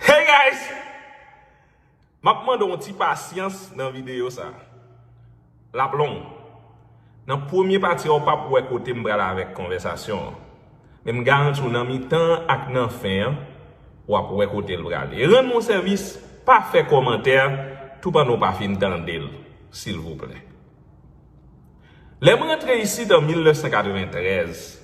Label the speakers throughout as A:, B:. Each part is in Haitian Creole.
A: Hey guys! Map mande yon ti pasyans nan video sa. Lap long. Nan premye pati a ou pap wè kote m pral avèk konvèsasyon an. Men m garanti w nan mitan an ak nan fen an, wap wè kote l pral. E rann m yon sèvis, pa fè kòmantè tou pandan w pa fin tande l silvouplè. Lè m rantre isit an 1993.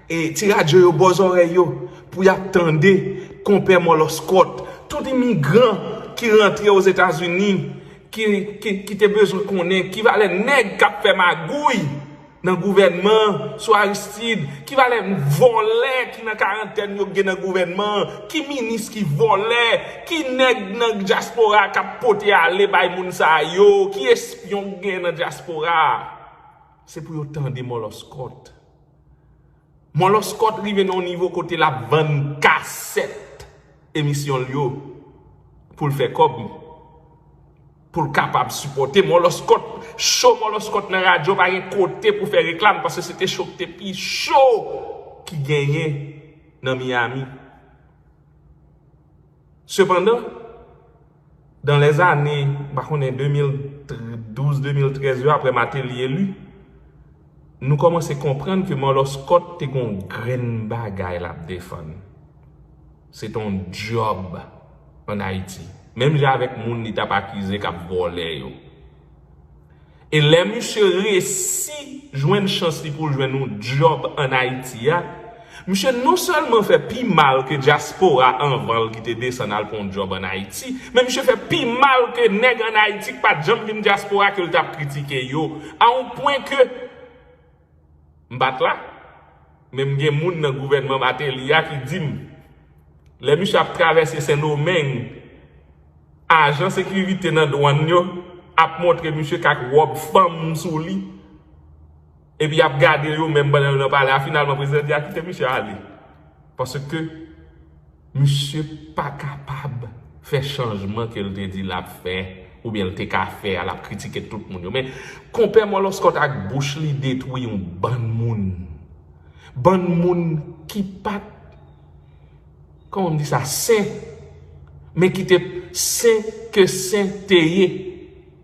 A: E ti radyo yo bò zòrèy yo pou y ap tande Konpè Mòlòskòt. Tout imigran ki rantre Ozetazini ki te bezwen konnen ki valè nèg k ap fè magouy nan gouvènman an sou Aristid, ki valè vòlè ki nan karantèn yo gen nan gouvènman an, ki minis ki vòlè, ki nèg nan dyaspora a k ap pote ale bay moun sa yo, ki espyon k gen nan dyaspora a. Se pou yo tande Mòlòskòt. Mòlòskòt rive nan yon nivo kote lap vann kasèt emisyon l yo pou l fè kòb pou l kapab sipòte mòlòskòt show mòlòskòt nan radyo pa gen kote pou fè reklam paske se te show ki te pi show ki genyen nan Miami sepandan Dan lè zane, m pa konnen 2012, 2013 yo apre Mateli eli, nou kòmanse konprann ke Mòlòskòt te gen yon grenn bagay l ap defann. Se te yon dyòb ann Ayiti. Menm jan avèk moun li t ap akize k ap vòlè yo. E lè misye resi jwenn chans li pou l jwenn yon djòb an Ayiti a, misye non sèlman fè pi mal ke dyaspora anvan l ki te desann al pran yon djòb an Ayiti, men misye fè pi mal ke nèg an Ayiti ki pa t janm vin dyaspora ke l t ap kritike yo, a yon pwen ke. M pa t la, men m gen moun nan gouvènman Mateli a ki di m, lè misye ap travèse Sendomeng, ajan sekirite nan dwann yo ap montre misye k ak wòb fanm sou li, epi y ap gade yo menm pandan yo nan pale a. Finalman, prezidan di a kite misye ale, paske Misye pa kapab fè chanjman ke l te di l ap fè oubyen l te ka fè a l ap kritike tout moun yo men konpè mòlòskòt ak bouch li detwi yon bann moun bann moun ki pat kòman m di sa sen men ki te sen ke sen te ye.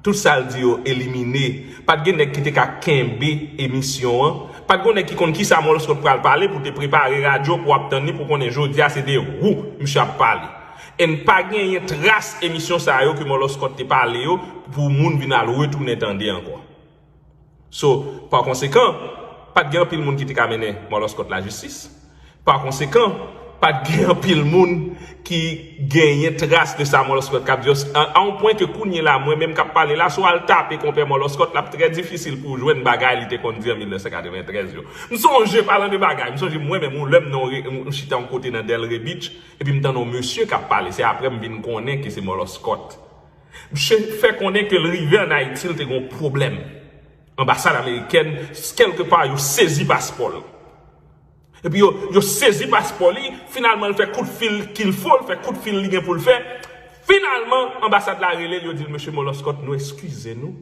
A: Tout sal di yo elimine. Pat gen nèg ki te ka kenbe emisyon an. Pat gon nèg ki konn kisa Molskot pral pale pou te prepare radyo pou ap tann li pou konnen jodia se de wou misye ap pale. Enn pa genyen tras emisyon sa yo ke Moloskot te pale yo pou moun vin al retounen tande ankò. So, pa konsekan, pa t gen anpil moun ki te ka mennen Marlon Scott lajistis. Pa konsekan, pa t gen anpil moun ki genyen tras de sa Marlon Scott kab di yo, a yon pwen ke kounyela, mwen menm k ap pale la, si w al tape Konpè Marlon Scott, l ap trè difisil pou w jwenn bagay li te konn di an 1993 yo. M sonje, palan de bagay, m sonje mwen menm yon lè m nan yon, m chita yon kote nan Delray Beach, epi m tande yon mesye k ap pale, se aprè m vin konnen ke se Marlon Scott. Msye fè konnen ke l rive an Ayiti l te gen yon pwoblèm. Anbasad amerikèn kèlke pa yo sezi paspò l. Epi yo yo sezi paspò li, finalman l fè kout fil kil fo, l fè kout fil li gen pou l fè, finalman anbasad la rele l yo di l Mesye Moloskòt nou eskize nou,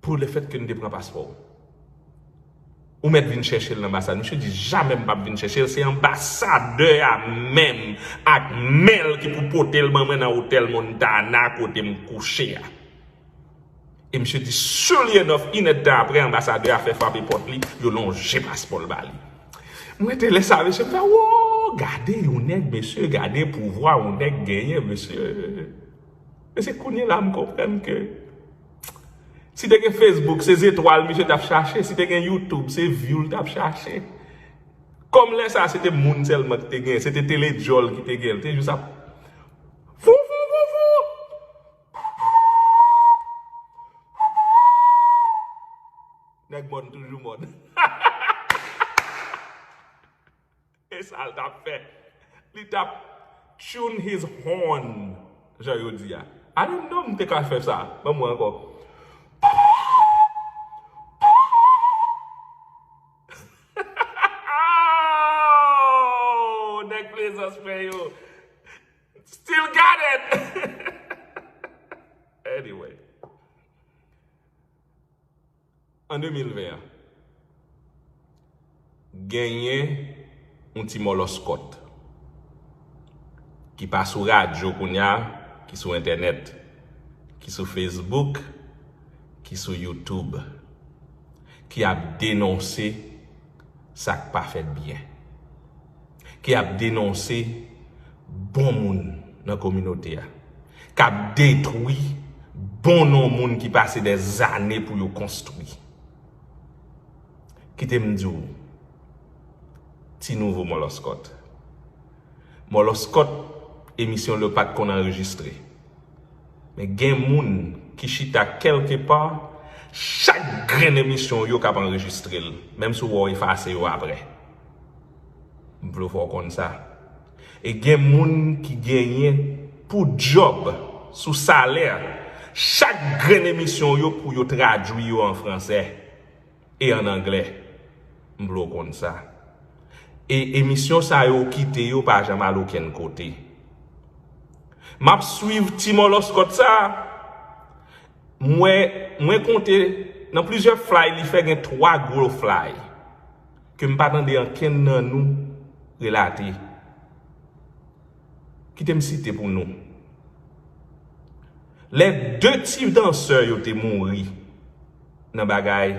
A: Pou le fait que nou te pran paspò ou. Ou mèt vin chèche l nan anbasad. Misye di jamè m pap vin chèche l se anbasadè a menm ak men l ki pou pote l ban mwen nan otèl Montana kote m kouche a. E misye di surely enough in èd tan aprè anbasadè a fè frape pòt li yo lonje paspò l ba li. M rete lè sa mesye m fè woo gade yon nèg mesye gade pouvwa yon nèg genyen mesye. Men se kounye la m konprann ke si te gen Facebook se zetwal misye tap chache, si te gen YouTube se view l tap chache. Kòm lè sa se te moun sèlman ki te gen, se te tele djòl ki te gen, li te jis ap Vouvouvou! Vouvouvou! Nèg mòn toujou mòn. E sa l t ap fè? Li t ap tune his horn, jan yo di a. Ane non m te ka fè sa. Ban mwen ankò. Aww! Nèg Plezans mwen yo. Still got it! Anyway. An 2020 an, genyen yon ti mòlòskòt ki pa sou radyo kounye a, ki sou entènèt, ki sou Facebook, ki sou YouTube, ki ap denonse sa k pa fèt byen. ki ap denonse bon moun nan kominote a, k ap detwi bon non moun ki pase dè zane pou yo konstwi. Kite m di w, ti nouvo mòlòskòt, mòlòskòt emisyon l yo pa t konn anrejistre, men gen moun ki chita kèlke pa, chak grenn emisyon w yo k ap anrejistre l, menm si w wè w efase yo aprè. M vle w fè w konn sa. E gen moun ki genyen pou djòb sou salè chak grenn emisyon w yo pou yo tradui yo an fransè e an anglè. M vle w konn sa. E emisyon sa yo w kite yo pa janm al okenn kote. M ap swiv ti mòlòskòt sa. M wè, mwen konte nan plizyè flay li fè gen 3 gwo flay. Ke m pa tande ankenn nan nou relate. Kite m site pou nou. Lè 2 ti dansè yo te mouri nan bagay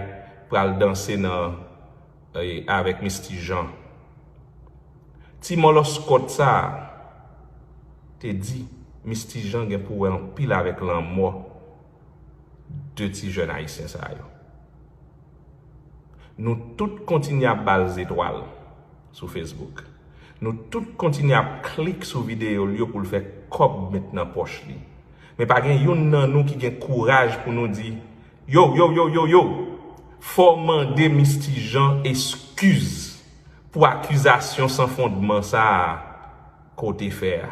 A: pral danse nan avèk Misty Jean. Ti mòlòskòt sa a te di Misty Jean gen pou wè anpil avèk lanmò 2 ti jèn ayisyen sa yo. Nou tout kontinye ap ba l zetwal sou Facebook. Nou tout kontinye ap klik sou videyo l yo pou l fè kòb met nan pòch li. Men pa gen youn nan nou ki gen kouraj pou nou di, Yow, yow, yow, yow, yow! Fò w mande Misty Jean eskiz pou akizasyon san fondman sa a ke w te fè a.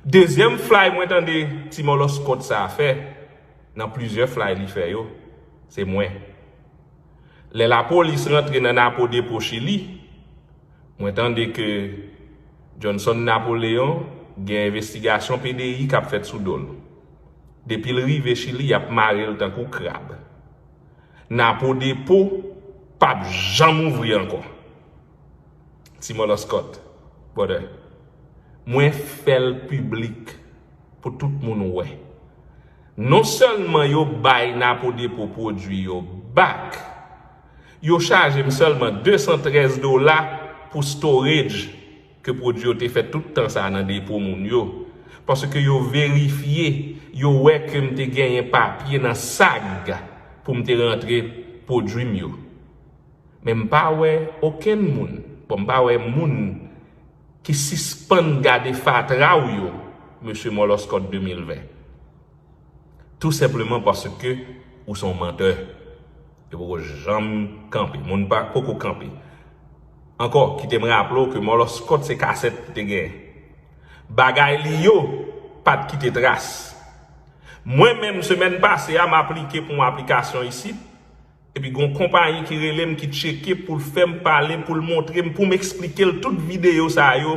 A: Dezyèm flay mwen tande ti mòlòskòt sa a fè, nan plizyè flay li fè yo, se mwen. Lè lapolis rantre nan Napo depo Chili, mwen tande ke Johnson Napoleon gen envestigasyon PDI k ap fèt sou do l. Depi l rive Chili y ap mare l tankou krab. Napo depo p ap janm ouvri ankò. Ti moloskot brother mwen fèl piblik pou tout moun wè non sèlman yo bay napo depo pwodwi yo back yo chajem sèlman 213 dola pou storage ke pwodwi yo te fè tout tan sa nan depo moun yo paske yo verifye yo wè kem te genyen papye nan sag poum te rantre pwodwim yo. Men m pa wè okenn moun, bon m pa wè moun ki sispann gade fatra w yo Mesye Mòlòskòt 2020. Tou senpleman paske ou se yon mantè. Yo poko janm kanpe. Moun pa poko kanpe. Ankò, kite m raple w ke Mòlòskòt se kasèt li te gen. Bagay li yo pa t kite tras. Mwen menm semèn pase a m aplike pou yon aplikasyon isit. Epi gon konpayi ki relem ki tcheke poul fèm pale poul montrem poum esplikel tout video sa yo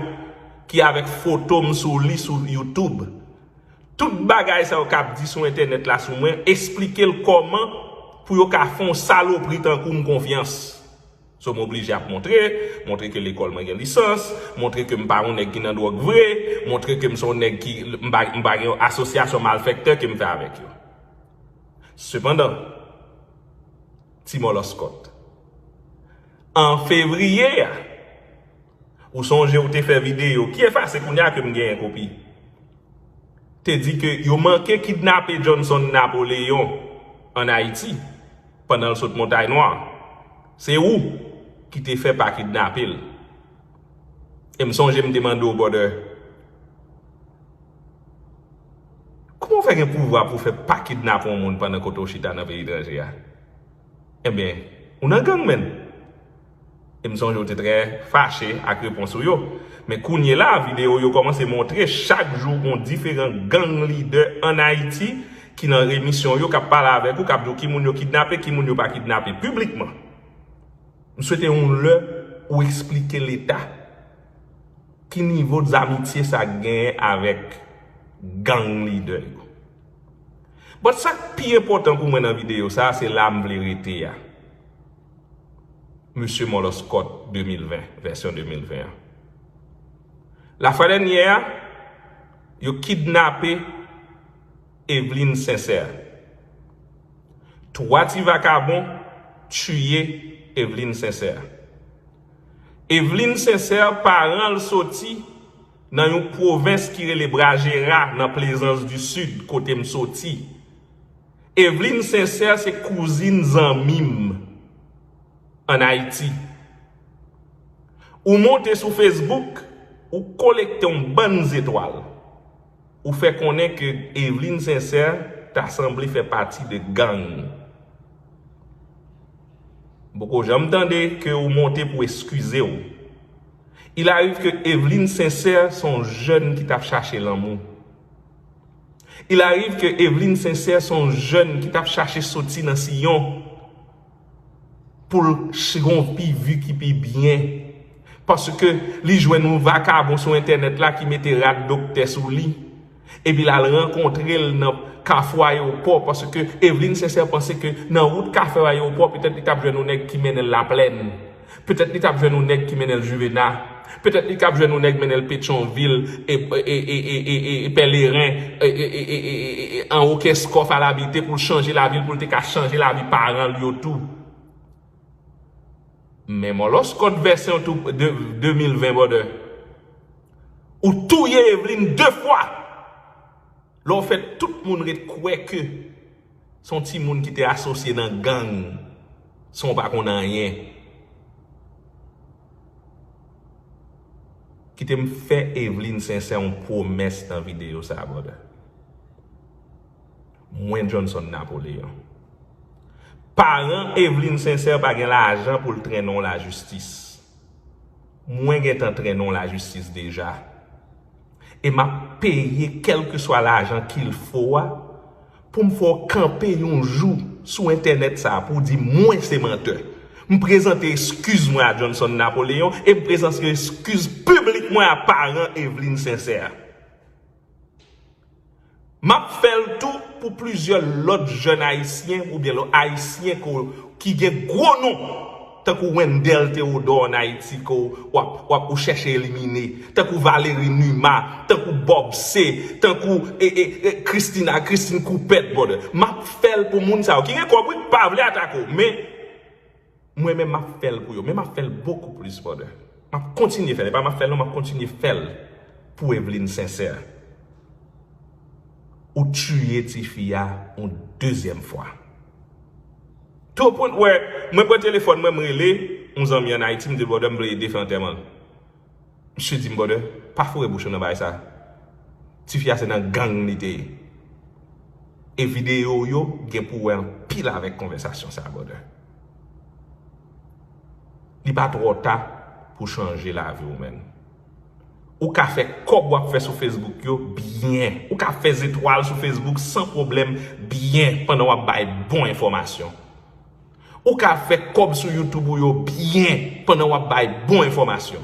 A: ki avèk fotom sou li sou youtube tout bagay sa yo kap di sou entènèt la sou mwen esplikel kòman pou yo ka fè yon salopri tankoum konfyans so m oblije ap montre montre ke lekòl mwen gen lisans montre kem pa yon nèg ki nan dwòg vre montre kem son nèg ki m pa gen yon asosyasyon malfèktè kem fè avèk yo. Sepandan, ti mòlòskòt, an fevriye a, ou sonje ou te fè videyo, ki efase kounye a ke m genyen kopi, te di ke yo manke kidnape Johnson Napoléon an Ayiti pandan l sot Montay Nwa. Se ou ki te fè pa kidnape l. E m sonje m te mande w, brother, Kouman ou fè gen pouvwa pou fè pa kidnape yon moun pandan kote ou chita nan peyi etranje a? Enben, ou nan gang menn. E m sonje ou te trè fache ak repons ou yo. Men kounyela a videyo yo kòmanse montre chak jou gon diferan gang lidè an Ayiti ki nan emisyon yo k ap pale avèk ou, k ap di w ki moun yo kidnape, ki moun yo pa kidnape, piblikman. M swete yon lè ou esplike Leta. Ki nivo zamitye sa genyen avèk gang lidè yo? But sa k pi enpòtan pou mwen nan videyo sa a, se la m vle rete a. Mesye Mòlòskòt 2020, vèsyon 2020 an. Lafwa dènyè a, yo kidnape Evelyne Sincère. 3 ti vakabon tiye Evelyne Sincère. Evelyne Sincère paran l soti nan yon pwovens ki rele Brajera nan Plezans di Sid kote m soti. Evelyne Sincère se kouzin zanmi m an Ayiti. Ou monte sou Facebook, ou kolekte yon bann zetwal. Ou fè konnen ke Eveline Sincère ta sanble fè pati de gang. M poko janm tande ke ou monte pou eskize w. Il arrive ke Eveline Sincère son jèn ki tap chache lanmou. Il arrive ke Eveline Sincère son jèn ki tap chache soti nan siyon. Poul chnpi vi ki pi byen. Paske li jwenn yon vakabon sou entènèt la ki mete rad doktè sou li. Epi l al rankontre l nan kafou ayewopò. Paske Evelyne Sincère panse ke nan wout kafou ayewopò petèt li t ap jwenn yon nèg ki mennen l Laplèn. Petèt li tap jwenn yon nèg ki mennenl juvena, petèt li kap jwenn yon nèg mennenl petyonvil e pèleren e anwo kèskòf al abite poul chanje lavil poul te ka chanje lavi paranl yo tou. Men mòlòskòt vèsyon 2020 brother. Ou touye Evelyne 2 fwa! Lè w fè tout moun ret kwè ke se yon timoun ki te asosye nan gang san w pa konn anyen. Kite m fè Evelyne Sincère yon pwomès nan videyo sa a brother. Mwen Johnson Napoléon. Paran Evelyne Sincère pa gen lajan pou l trennen w lajistis. Mwen gentan trennen w lajistis deja. e map peye kèlkeswa lajan kil fo a poum fè w kanpe yon jou sou entènèt sa a pou w di mwen se mantè. M prezante eskiz mwen a Johnson Napoléon e m prezante eskiz piblik mwen a paran Eveline Sincère. M ap fè l tou pou plizyè lòt jèn ayisyen oubyen lò ayisyen ke w ki gen gwo non tankou Wendell Theodore an Ayiti ke w w ap w ap ou chèche elimine tankou Valery Numa tankou Bob C tankou e e e Christina Christine Coupet brother. M ap fè l pou moun sa yo ki gen kòb wi pa vle atake w men Mwen menm map fèl pou yo men map fèl bokou plis for de map kontinye fèl epa map fèl non map kontinye fèl pou Evelyne sincère ou tiye tifi a yon dezyèm fwa tou au point wè mwen pran telefòn mwen m rele yon zanmi an Ayiti m dil brother m vle ede fè antèman l. Msye dim brother pa foure bouch ou nan bagay sa tifi a se nan gang li te ye e video ou yo gen pou wè anpil avèk konvèsasyon sa brother li pa trò ta pou chanje lavi ou menn ou ka fè kòb wap fè sou facebook yo byen ou ka fè zetwal sou facebook san pwoblèm byen pandan wap bay bon enfòmasyon. Ou ka fè kòb sou YouTube ou yo byen pandan wap bay bon enfòmasyon.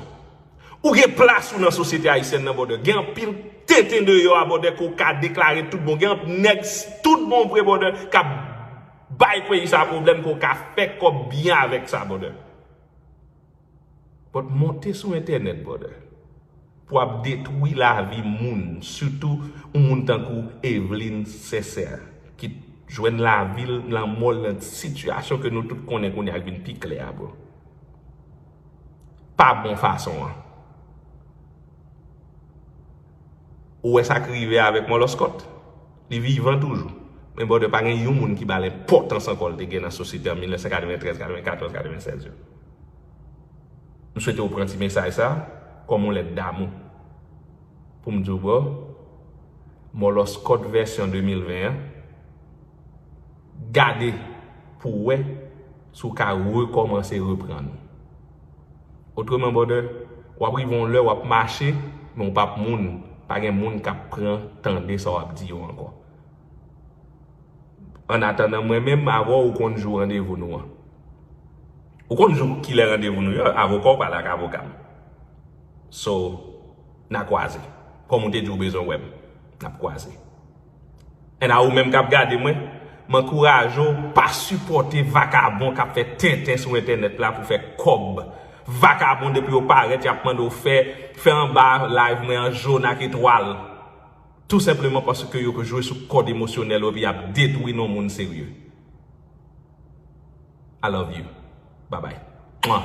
A: Ou gen plas ou nan sosyete ayisyèn nan brother. Gen anpil tenten deyò a brother ke w ka deklare tout bon. Gen anpl nèg tout bon vre brother kap bay peyi sa pwoblèm ke w ka fè kòb byen avèk sa brother. But monte sou entènèt brother pou ap detwi lavi moun sitou yon moun tankou Evelyne Cesaire ki t jwenn lavil lanmòl nan sitiyasyon ke nou tout konnen kounya k vin pi klè a bro pa bon fason an ou wè sak rive avèk Mòlòskòt li vivan toujou men brother pa gen yon moun ki bal enpòtans ankò l te gen nan sosyete an 1993, 94, 96 yo. M swete ou pran ti mesaj sa kòm yon lèt damou. Pou m di w bro, Mòlòs Kòd vèsyon 2020 an, gade pou w wè si w ka rekòmanse reprann ou. Otreman brother, w ap rive yon lè w ap mache men w p ap moun, pa gen moun k ap pran tande sa w ap di yo ankò. An atandan mwen menm avè w ou konn jou randevou nou an? Ou konn jou kilè randevou nou yo? Avoka w pale ak avoka m. So, n a kwaze. Kòm ou te di ou bezwen wè m, n ap kwaze. And a ou menm k ap gade mwen, m ankouraje w pa sipòte vakabon k ap fè tenten sou entènèt la pou fè kòb. Vakabon depi yo parèt y ap mande w fè, fè anba live mwen an jòn ak etwal. Tou senpleman paske yo jwe sou kòd emosyonèl ou epi yap detwi non moun serye. I love you. Babay. Mwah.